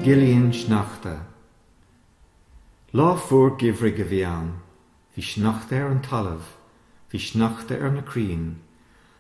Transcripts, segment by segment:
Gilín Sneachta. Lá fuar geimhridh a bhí ann. Bhí sneachta ar an talamh. Bhí sneachta ar na crainn.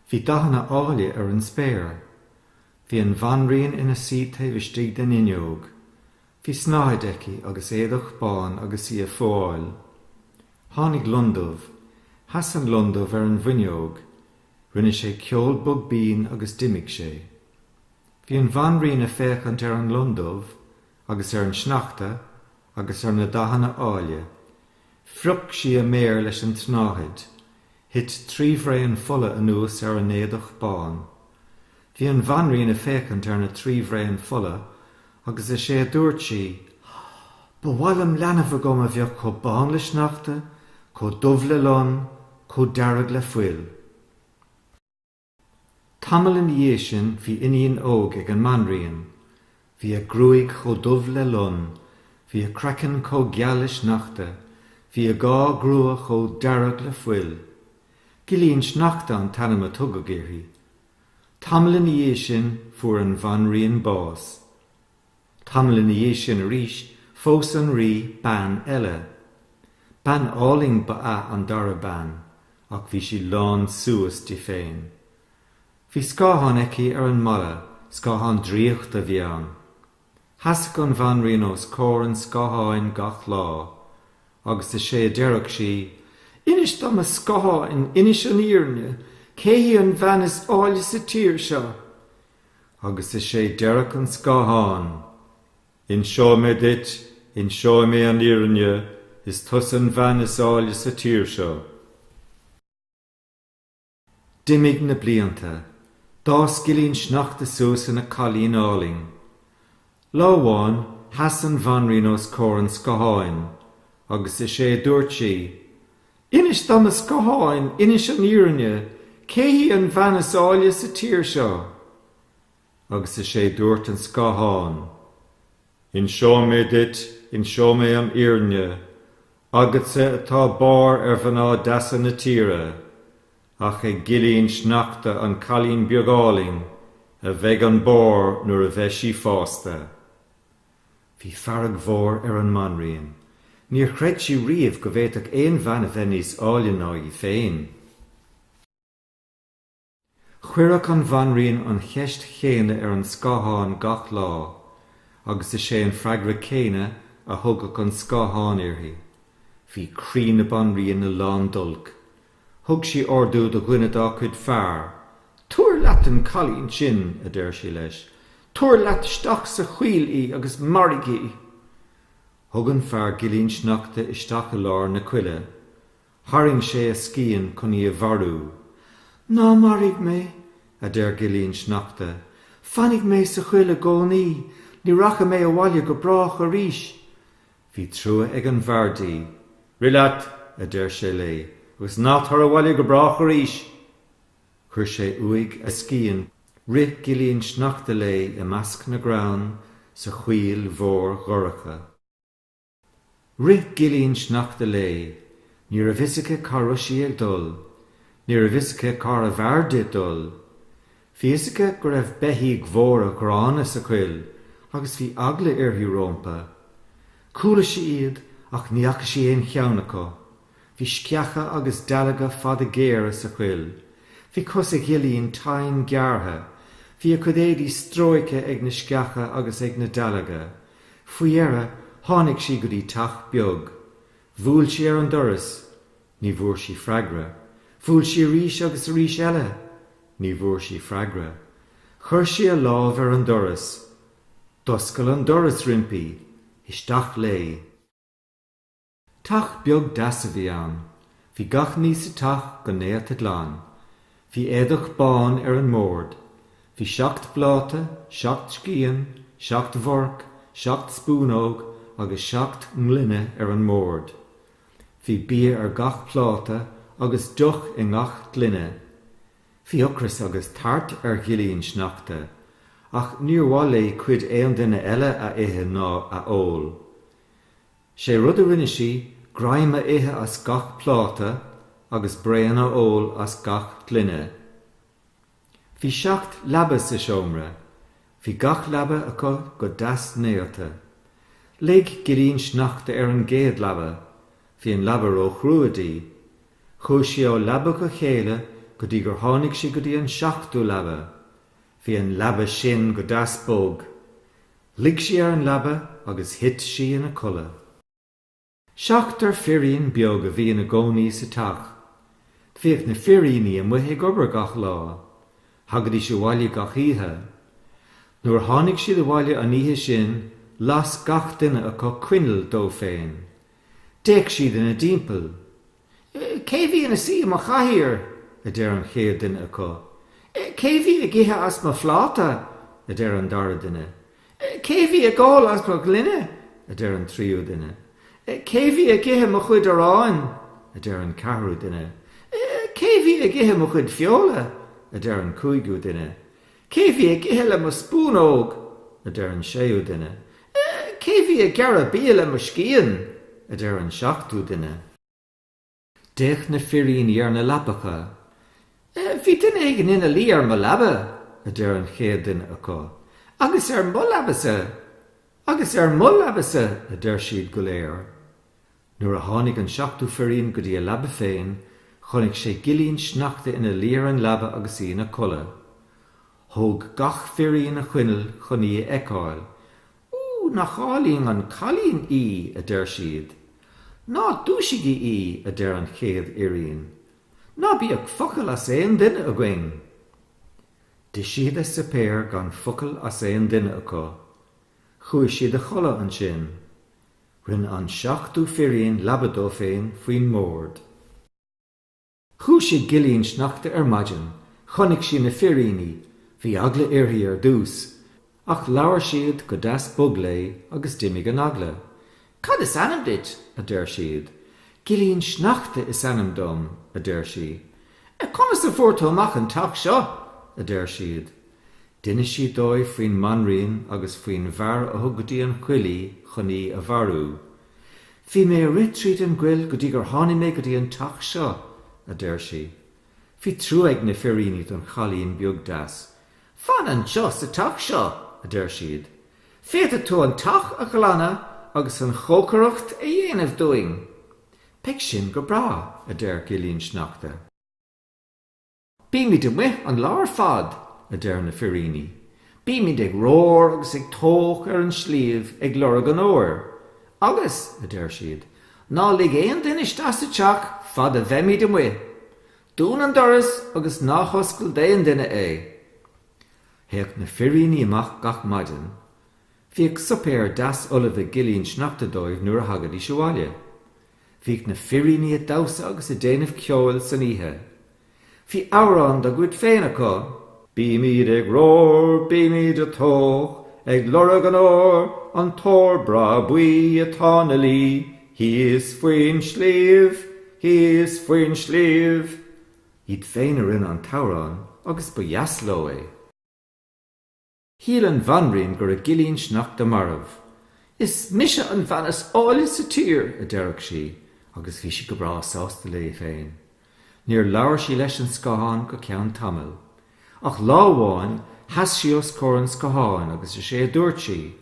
Bhí dathanna áille ar an spéir. Bhí an bhanríon ina suí taobh istigh den fhuinneog. Bhí snáthaid aici agus éadach bán agus í a fúáil. Tháinig londubh. Sheas an londubh ar an bhfuinneog. Rinne sé ceol bog binn agus d'imigh sé. Bhí an bhanríon a féachaint ar an londubh agus ar an sneachta agus ar na dathanna áille. Phrioc sí a méar leis an tsnáthaid, thit trí bhraon fola anuas ar an éadach bán. Bhí an Bhanríon a féachaint ar na trí bhraon fola agus is é a dúirt sí, Ba mhaith liom leanbh agam a bheadh chomh bán le sneachta, chomh dubh le lon, chomh dearg le fuil. Tamall ina dhiaidh sin bhí iníon óg ag an mbanríon. Bhí a gruaig chomh dubh le lon, bhí a craiceann chomh geal le sneachta, bhí a dhá grua chomh dearg le fuil. Gilín Sneachta an t-ainm a tugadh uirthi. Tamall ina dhiaidh sin fuair an bhanríon bás. Tamall ina dhiaidh sin arís, phós an Rí bean eile. Bean álainn ba ea an dara bean, ach bhí sí lán suas di féin. Bhí scáthán aici ar an mballa, scáthán draíochta a bhí ann. Sheasadh an Bhanríon os comhair an scátháin gach lá, agus is é a deireadh sí, Inis dom, a scátháin, inis an fhírinne, cé hí an bhean is áille sa tír seo? Agus is é deireadh an scáthán, Inseoidh mé duit, inseoidh mé an fhírinne, is tusa an bhean is áille sa tír seo. D'imigh na blianta. D'fhás Gilín Sneachta suas ina cailín álainn. Lá amháin, sheas an bhanríon os comhair an scátháin, agus is é a dúirt sí, Inis dom a scátháin, inis an fhírinne, cé hí an bhean is áille sa tír seo? Agus is é a dúirt an scáthán, Inseoidh mé duit, inseoidh mé an fhírinne, agatsa atá barr ar mhná deasa na tíre, ach ag Gilín Sneachta an cailín beag álainn a bheidh an barr nuair a bheidh sí fásta. Bhí fearg mhór ar an mBanríon. Níor chreid sí riamh go bhféadfadh aon bhean a bheith níos áille ná í féin. Chuireadh an Bhanríon an cheist chéanna ar an scáthán gach lá agus is é an freagra céanna a thugadh an scáthán uirthi. Bhí croí na Banríona lán d'olc Thug sí ordú do dhuine dá cuid fear, 'Tabhair leat an cailín sin, a deir sí leis, 'tabhair leat isteach sa choill í agus maraigh í! Thug an fear Gilín Sneachta isteach i lár na coille. Tharraing sé a scian chun í a mharú. 'Ná maraigh mé! a deir Gilín Sneachta. 'Fanfaidh mé sa choill i gcónaí, ní rachaidh mé abhaile go brách arís! Bhí trua ag an bhfear di. Rith leat, a deir sé léi, agus ná tar abhaile go brách arís! Chuir sé uaidh a scian, rith Gilín Sneachta léi i measc na gcrann sa choill mhór dhorcha. Rith Gilín Sneachta léi, ní raibh a fhios aici cá raibh sí ag dul, ní raibh a fhios aici cárbh fhearr di dul. Bhí a fhios aici go raibh beithígh mhóra gránna sa choill agus bhí eagla uirthi rompu. Chuala sí iad ach ní fhaca sí aon cheann acu. Bhí sceacha agus dealga fada géara sa choill. Bhí cosa Ghilín tinn gearrtha. Bhí a cuid éadaí stróicthe ag na sceacha agus ag na dealga. Faoi dheireadh tháinig sí go dtí teach beag. Bhuail sí ar an doras. Ní bhfuair sí freagra. Bhuail sí arís agus arís eile. Ní bhfuair sí freagra. Chuir sí a lámh ar an doras. D'oscail an doras roimpi. Isteach léi. Teach beag deas a bhí ann. Bhí gach ní sa teach go néata glan. Bhí éadach bán ar an mbord. Bhí seacht bpláta, seacht scian, seacht bhforc, seacht spúnóg agus seacht ngloine ar an mbord. Bhí bia ar gach pláta agus deoch i ngach gloine. Bhí ocras agus tart ar Ghilín Sneachta, ach níor mhaith léi cuid aon duine eile a ithe ná a ól. Sé rud a rinne sí, greim a ithe as gach pláta agus braon a ól as gach gloine. Bhí seacht leaba sa seomra. Bhí gach leaba acu go deas néata. Luigh Gilín Sneachta ar an gcéad leaba. Bhí an leaba róchrua di. Chuaigh sí ó leaba go chéile go dtí gur tháinig sí go dtí an seachtú leaba. Bhí an leaba sin go deas bog. Luigh sí ar an leaba agus thit sí ina codladh. Seachtar firín beag a bhí ina gcónaí sa teach. Bhíodh na firíní amuigh ag obair gach lá. Thagaidís abhaile gach oíche. Nuair a tháinig siad abhaile an oíche sin, las gach duine acu coinneal dó féin. D'fhéach siad ina dtimpeall. Cé bhí ina suí i mo chathaoir? a deir an chéad duine acu. Cé bhí ag ithe as mo phláta? a deir an dara duine. Cé bhí ag ól as mo ghloine? a deir an tríú duine. Cé bhí ag ithe mo chuid aráin? a deir an ceathrú duine. Cé bhí ag ithe mo chuid feola? a deir an cúigiú duine. Cé bhí ag ithe le mo spúnóg? a deir an séú duine. Cé bhí ag gearradh bia le mo scian? a deir an seachtú duine. D'fhéach na firíní ar na leapacha. Bhí duine éigin ina luí ar mo leaba, a deir an chéad duine acu. Agus ar mo leabasa! Agus ar mo leabasa! a deir siad go léir. Nuair a tháinig an seachtú firín go dtí a leaba féin, chonaic sé Gilín Sneachta ina luí ar an leaba agus í ina codladh. Thóg gach firín a choinneal chun í a fheiceáil. Ó, nach álainn an cailín í! a deir siad. Ná dúisigí í! a deir an chéad fhirín. Ná bíodh focal as aon duine againn! D'ith siad a suipéar gan focal as aon duine acu. Chuaigh siad a chodladh ansin. Rinne an seachtú firín leaba dó féin faoin mbord. Dhúisigh Gilín Sneachta ar maidin, chonaic sí na firíní, bhí eagla uirthi ar dtús, ach labhair siad go deas bog léi agus d'imigh an eagla. Cad is ainm duit? a deir siad. Gilín Sneachta is ainm dom, a deir sí. Conas a fuair tú amach an teach seo? a deir siad. D'inis sí dóibh faoin mbanríon agus faoin bhfear a thug go dtí an choill í chun í a mharú. Bhí mé ag rith tríd an gcoill go dtí gur tháinig mé go dtí an teach seo, a deir sí. Bhí trua ag na firíní don chailín beag deas. Fan anseo sa teach seo, a deir siad. Féadfaidh tú an teach a ghlanadh agus an chócaireacht a dhéanamh dúinn. Beidh sin go breá, a deir Gilín Sneachta. Bímid amuigh an lá ar fad, a deir na firíní. Bímid ag romhar agus ag tóch ar an sliabh ag lorg an óir. Agus, a deir siad, ná lig aon duine isteach sa teach fad a bheimid amuigh. Dún an doras agus ná hoscail d'aon duine é. Théadh na firíní amach gach maidin. Bhíodh suipéar deas ullamh ag Gilín Sneachta dóibh nuair a thagaidís abhaile. Bhíodh na firíní a damhsa agus a déanamh ceoil san oíche. Bhí amhrán dá gcuid féin acu. Bímid ag rómhar, bímid a tóch, ag lorg an óir, an t-ór breá buí atá 'na luí thíos faoin sliabh, thíos faoin sliabh. Iad féin a rinne an t-amhrán agus ba dheas leo é. Shíl an bhanríon go raibh Gilín Sneachta marbh. 'Is mise an bhean is áille sa tír! a deireadh sí, agus bhí sí go breá sásta léi féin. Níor labhair sí leis an scáthán go ceann tamaill. Ach lá amháin, sheas sí os comhair an scátháin agus is é a dúirt sí,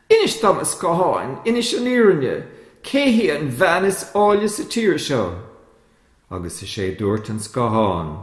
'Inis dom, a scátháin, inis an fhírinne, cé hí an bhean is áille sa tír seo? Agus is é dúirt an scáthán,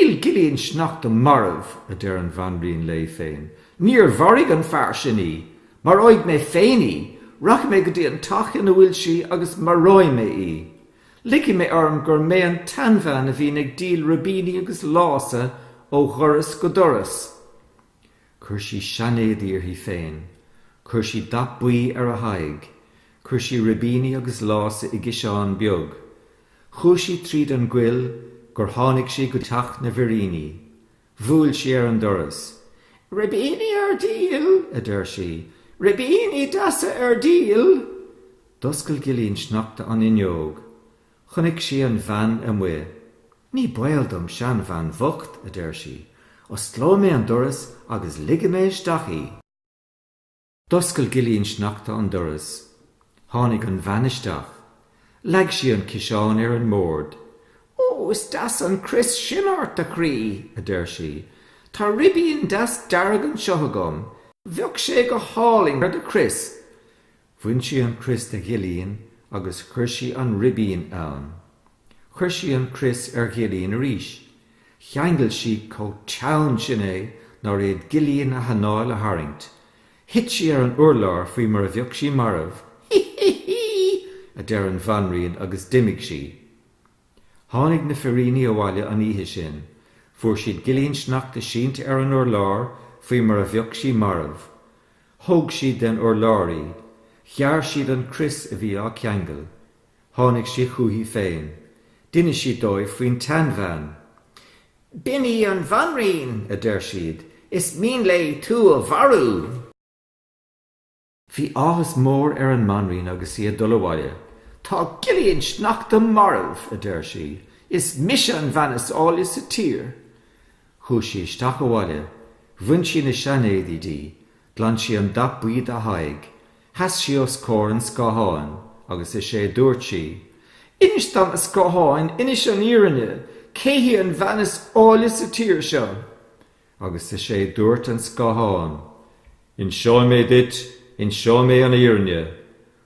Níl Gilín Sneachta marbh, a deir an Bhanríon léi féin. Níor mharaigh an fear sin í. Maróidh mé féin í. Rachaidh mé go dtí an teach ina bhfuil sí agus maróidh mé í. Ligfidh mé orm gur mé an tseanbhean a bhíonn ag díol ribíní agus lása ó dhoras go doras. Chuir sí seanéadaí uirthi féin. Chuir sí dath buí ar a haghaidh. Chuir sí ribíní agus lása i gciseán beag. Chuaigh sí tríd an gcoill gur tháinig sí go teach na bhfiríní. Bhuail sí ar an doras. Ribíní ar díol! a deir sí. Ribíní deasa ar díol! D'oscail Gilín Sneachta an fhuinneog. Chonaic sí an bhean amuigh. Ní baol dom seanbhean bhocht, a deir sí. Osclóidh mé an doras agus ligfidh mé isteach í. D'oscail Gilín Sneachta an doras. Tháinig an bhean isteach. Leag sí an ciseán ar an mbord. Ó, is deas an crios sin ort, a chroí, a deir sí. Tá ribín deas dearg anseo agam. Bheadh sé go hálainn ar do chrios. Bhain sí an crios de Ghilín agus chuir sí an ribín ann. Chuir sí an crios ar Ghilín arís. Cheangail sí chomh teann sin é nár fhéad Gilín a hanáil a tharraingt. Thit sí ar an urlár faoi mar a bheadh sí marbh. Hí hí hí! a deir an Bhanríon agus d'imigh sí. Tháinig na firíní abhaile an oíche sin. Fuair siad Gilín Sneachta sínte ar an urlár faoi mar a bheadh sí marbh. Thóg siad den urlár í, ghearr siad an crios a bhí á ceangal, tháinig sí chuici féin, d'inis sí dóibh faoin tseanbhean. B'in í an bhanríon! a deir siad, is mian léi tú a mharú! Bhí áthas mór ar an mbanríon agus í ag dul abhaile. Tá Gilín Sneachta marbh! a deir sí, is mise an bhean is áille sa tír! Chuaidh sí isteach abhaile, bhain sí na seanéadaí di, ghlan sí an dath buí dá haghaidh, sheas sí os comhair an scátháin agus is é dúirt sí, Inis dom, a scátháin, inis an fhírinne, cé hí an bhean is áille sa tír seo? Agus is é dúirt an scáthán, Inseoidh mé duit, inseoidh mé an fhírinne,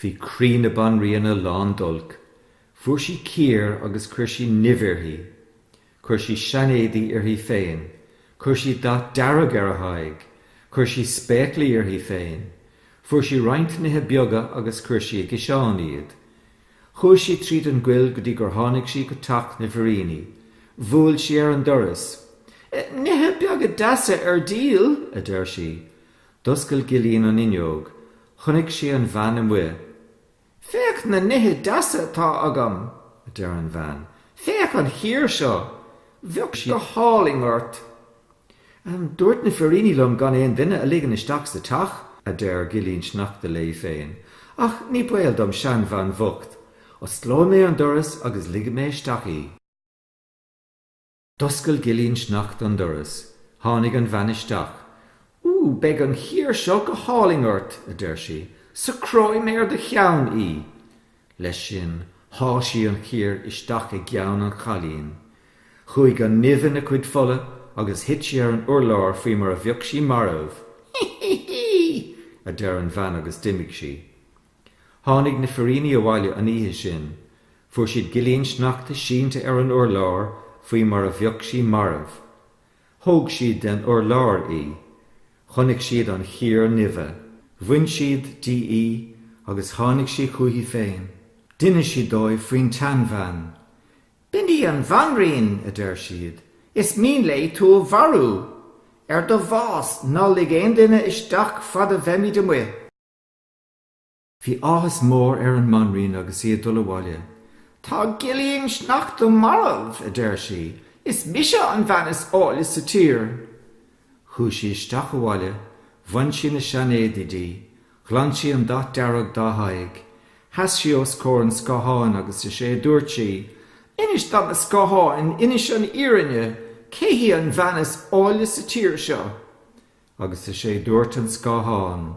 Bhí croí na banríona lán d'olc. Fuair sí cíor agus chuir sí nimh uirthi. Chuir sí seanéadaí uirthi féin. Chuir sí dath dearg ar a haghaidh. Chuir sí spéaclaí uirthi féin. Fuair sí roinnt nithe beaga agus chuir sí i gciseán iad. Chuaigh sí tríd an gcoill go dtí gur tháinig sí go teach na bhfiríní. Bhuail sí ar an doras. 'Nithe beaga deasa ar díol! a deir sí. D'oscail Gilín an fhuinneog. Chonaic sí an bhean amuigh. 'Féach na nithe deasa atá agam! a deir an bhean. 'Féach an chíor seo! Bheadh sí go hálainn ort! 'Dúirt na firíní liom gan aon duine a ligean isteach sa teach, a deir Gilín Sneachta léi féin. 'Ach ní baol dom seanbhean bhocht. Osclóidh mé an doras agus ligfidh mé isteach í. D'oscail Gilín Sneachta an doras. Tháinig an bhean isteach. Ó, beidh an chíor seo go hálainn ort! a deir sí. Socróidh mé ar do cheann í! Leis sin, sháigh sí an chíor isteach i gceann an chailín. Chuaigh an nimh ina cuid fola agus thit sí ar an urlár faoi mar a bheadh sí marbh. Hí hí hí! a deir an bhean agus d'imigh sí. Tháinig na firíní abhaile an oíche sin. Fuair siad Gilín Sneachta sínte ar an urlár faoi mar a bheadh sí marbh. Thóg siad den urlár í. Chonaic siad an chíor nimhe. Bhain siad di í agus tháinig sí chuici féin. D'inis sí dóibh faoin tseanbhean. B'in í an bhanríon! a deir siad. Is mian léi tú a mharú! Ar do bhás, ná lig aon duine isteach fad a bheimid amuigh! Bhí áthas mór ar an mbanríon agus í ag dul abhaile. Tá Gilín Sneachta marbh! a deir sí. Is mise an bhean is áille sa tír! Chuaigh sí isteach abhaile, bhain sí na seanéadaí di, ghlan sí an dath dearg dá haghaidh, sheas sí os comhair an scátháin agus is é a dúirt sí, Inis dom, a scátháin, inis an fhírinne, cé hí an bhean is áille sa tír seo? Agus is é a dúirt an scáthán.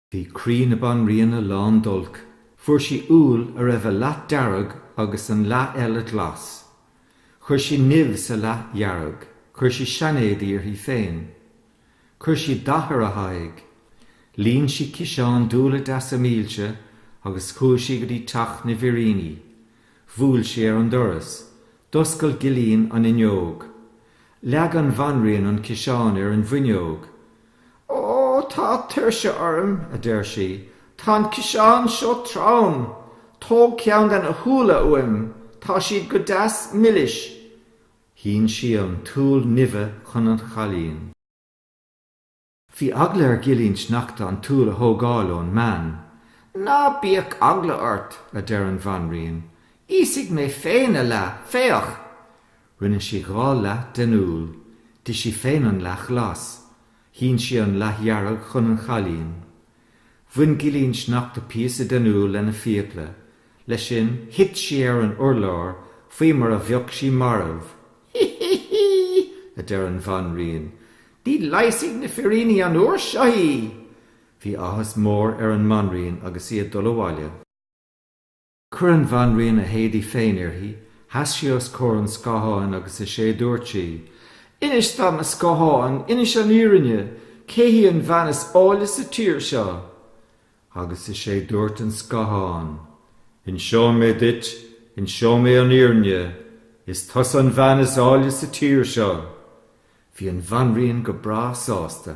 Bhí croí na banríona lán d'olc. Fuair sí úll a raibh a leath dearg agus an leath eile glas. Chuir sí nimh sa leath dhearg. Chuir sí seanéadaí uirthi féin. Chuir sí dath ar a haghaidh. Líon sí ciseán d'úlla deasa milse agus chuaigh sí go dtí teach na bhfiríní. Bhuail sí ar an doras. D'oscail Gilín an fhuinneog. Leag an bhanríon an ciseán ar an bhfuinneog. Ó, tá tuirse orm, a deir sí, tá an ciseán seo trom! Tóg ceann de na húlla uaim, tá siad go deas milis. Shín sí an t-úll nimhe chun an chailín. Bhí eagla ar Ghilín Sneachta an t-úll a thógáil ón mbean. Ná bíodh eagla ort, a deir an bhanríon, íosfaidh mé féin a leath, féach! Rinne sí dhá leath den úll. D'ith sí féin an leath ghlas. Shín sí an leath dhearg chun an chailín. Bhain Gilín Sneachta píosa den úll lena fiacla. Leis sin, thit sí ar an urlár faoi mar a bheadh sí marbh. Hí! Hí! Hí! a deir an Bhanríon. Ní leigheasfaidh na firíní an uair seo í! Bhí áthas mór ar an mBanríon agus í ag dul abhaile. Chuir an Bhanríon a héadaí féin uirthi, sheas sí os comhair an scátháin agus is é dúirt sí, 'Inis dom, a scátháin, inis an fhírinne, cé hí an bhean is áille sa tír seo? Agus is é dúirt an scáthán, 'Inseoidh mé duit, inseoidh mé an fhírinne, is tusa an bhean is áille sa tír seo! Bhí an Bhanríon go breá sásta.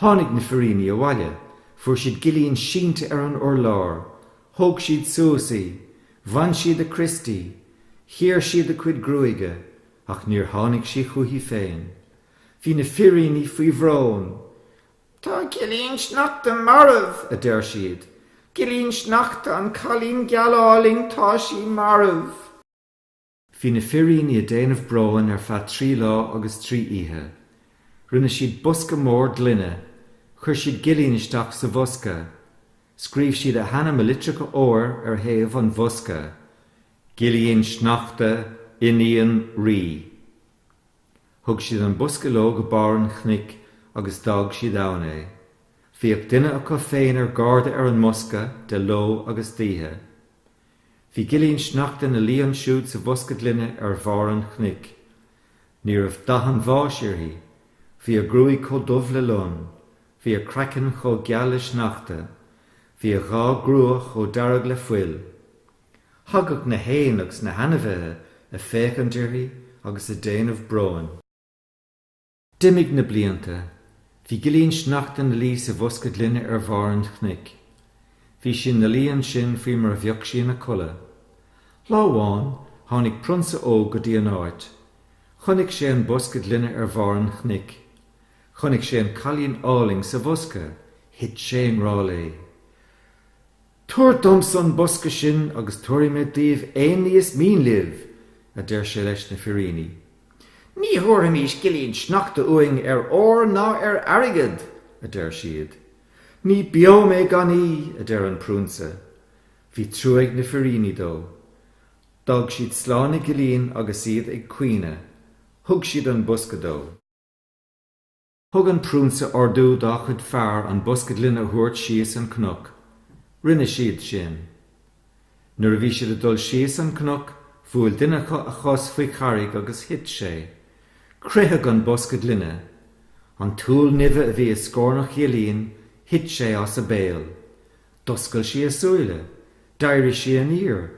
Tháinig na firíní abhaile, fuair siad Gilín sínte ar an urlár, thóg siad suas í, bhain siad a crios di, chíor siad a cuid gruaige, ach níor tháinig sí chuici féin. Bhí na firíní faoi bhrón. Tá Gilín Sneachta marbh! a deir siad. Gilín Sneachta, an cailín geal álainn, tá sí marbh! Bhí na firíní a' déanamh bróin ar feadh trí lá agus trí oíche. Rinne siad bosca mór gloine. Chuir siad Gilín isteach sa bhosca. Scríobh siad a hainm i litreacha óir ar thaobh an bhosca. Gilín Sneachta, iníon rí. Thug siad an bosca leo go barr an chnoic agus d'fhág siad ann é. Bhíodh duine acu féin ar garda ar an mbosca de ló agus d'oíche. Bhí Gilín Sneachta ina luí ansiúd sa bhosca gloine ar bharr an chnoic. Ní raibh dath an bháis uirthi. Bhí a gruaig chomh dubh le lon. Bhí a craiceann chomh geal le sneachta. Bhí a dhá grua chomh dearg le fuil. Thagadh na héin agus na hainmhithe a' féachaint uirthi agus a' déanamh bróin. D'imigh na blianta. Bhí Gillín Sneachta 'na luí sa bhosca gloine ar bharr an chnoic. Bhí sí 'na luí ansin faoi mar a bheadh sí ina codladh. Lá amháin, tháinig prionsa óg go dtí an áit. Chonaic sé an bosca gloine ar bharr an chnoic. Chonaic sé an cailín álainn sa bhosca. Thit sé i ngrá léi. Tabhair domsa an bosca sin agus tabharfaidh mé daoibh aon ní is mian libh, a deir sé leis na firíní. Ní thabharfaimis Gillín Sneachta uainn ar ór ná ar airgead, a deir siad. Ní beo mé gan í, a deir an Prionsa. Bhí trua ag na firíní dó. D'fhág siad slán ag Gillín agus iad ag caoineadh. Thug siad an bosca dó. Thug an Prionsa ordú dá chuid fear an bosca gloine a thabhairt síos an cnoc. Rinne siad sin. Nuair a bhí siad ag dul síos an cnoc, bhuail duine acu a chos faoi charraig agus thit sé. Croitheadh an bosca gloine. An t-úll nimhe a bhí i scornach Ghillín, thit sé as a béal. D'oscail sí a súile. D'éirigh sí aniar.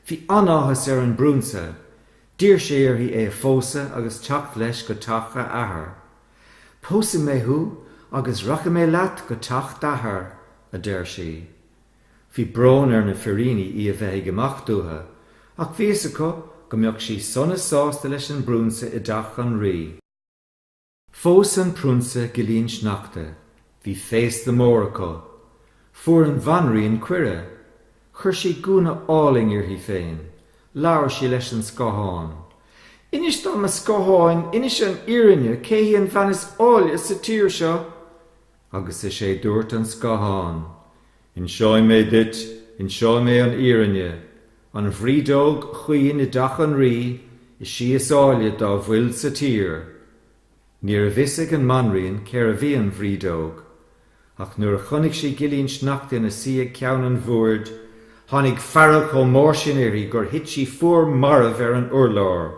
Bhí an-áthas ar an bPrionsa. D'iarr sé uirthi é a phósadh agus teacht leis go teach a athar. 'Pósfaidh mé thú agus rachaidh mé leat go teach d'athar, a deir sí. Bhí brón ar na firíni í a bheith ag imeacht uathu, ach bhí a fhios acu go mbeadh sí sona sásta leis an bprionsa i dteach an rí. Phós an Prionsa Gillín Sneachta. Bhí féasta mór acu. Fuair an Bhanríon cuireadh. Chuir sí gúna álainn uirthi féin. Labhair sí leis an scáthán. Inis dom, a scátháin, inis an fhírinne, cé hí an bhean is áille sa tír seo? Agus is é dúirt an scáthán, Inseoidh mé duit, inseoidh mé an fhírinne. An bhrídeog chaoin i dteach an rí is sí is áille dá bhfuil sa tír. Ní raibh a fhios ag an mbanríon cérbh í an bhrídeog, ach nuair a chonaic sí Gillín Sneachta ina suí ag ceann an bhoird, tháinig fearg chomh mór sin uirthi gur thit sí fuar marbh ar an urlár.